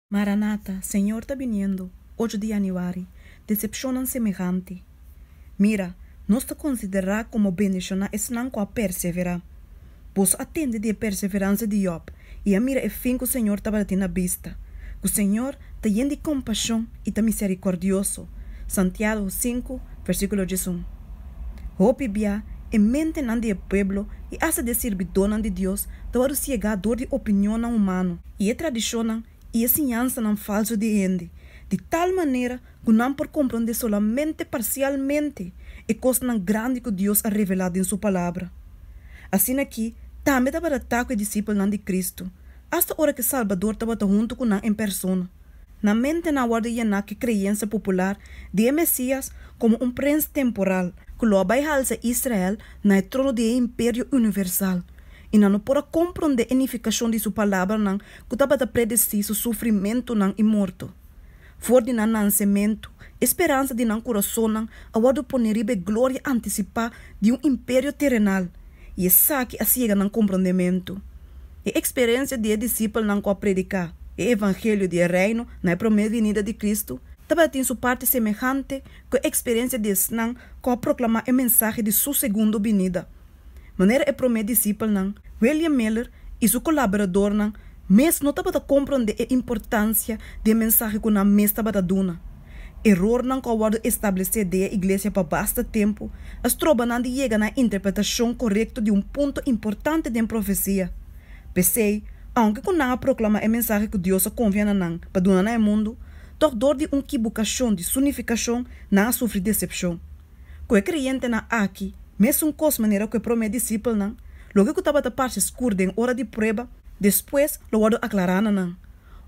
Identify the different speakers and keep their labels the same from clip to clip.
Speaker 1: Maranata, Señor ta biniendo, ocho di Januari, Decepcionnan semehante. Mira, nos ta considera como bendiciona esnan cu a persevera. Boso a tende di e perseverancia di Job y a mira e fin cu Señor tabata tin na bista, cu Señor ta yen di compasion y ta misericordioso, Santiago sinku, versiculo diesun. Hopi bia, e mentenan di e pueblo y hasta di e sirbidonan di Dios ta wòrdu siegá dor di opinionnan humano. i e tradishonnan i e siñansanan falsu di hende, di tal manera ku nan por komprondé solamente parsialmente e kosnan grandi ku Dios a revelá den Su Palabra. Asina ki tambe tabadatá ku e disipelnan di Kristu, asta ora ku e Salbador tabata huntu ku nan en persona. Nan mentenan a wòrdu yená ku e kreyensia popular di e Mesías komo un prens temporal ku lo a bai halsa Israel na e trono di e imperio universal, i nan no por a komprondé e nifikashon di su palabranan ku tabata predesí su sufrimentunan i morto. For di nan nansementu, e speransa di nan kurasonnan a wòrdu poné riba e gloria antisipá di un imperio terenal, i esaki a siega nan komprondementu. E eksperensia di e disipelnan ku a prediká e evangelio di e Reino na e promé vinida di Kristu tabatin su parti semehante ku e eksperensia di esnan ku a proklamá e mensahe di Su segundo binida. Manera e promé disipelnan, William Miller i su kolaboradornan mes no tabata komprondé e importansia di e mensahe ku nan mes tabata duna. Erornan ku a wòrdu establesé den e iglesia pa basta tempu a stroba nan di yega na e interpretashon korekto di un punto importante den profesia. P'esei, aunke ku nan a proklamá e mensahe ku Dios a konfia na nan pa duna na e mundu, tòg dor di un kibukashon di sunifikashon nan a sufri desepshon. Ku e kreyentenan aki, mesun kos manera ku e promé disipelnan, loke ku tabata parse skur den ora di prueba, despues lo wòrdu aklará na nan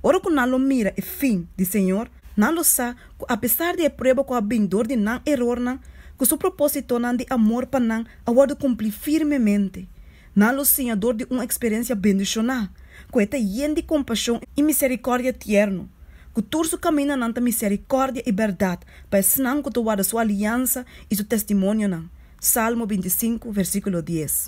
Speaker 1: Ora ku nan lo mira e fin di Señor, nan lo sa ku apesar di e prueba ku a bin dor di nan erornan, ku su propósitonan di amor pa nan a wòrdu kumplí firmemente. Nan lo siña dor di un eksperensia bendishoná, ku e ta yen di kompashon i miserikòrdia tierno, ku tur su kamindanan ta miserikòrdia i bèrdat pa esnan ku ta warda su aliansa i su testimonionan. Salmo binti i sinku, versíkulo dies.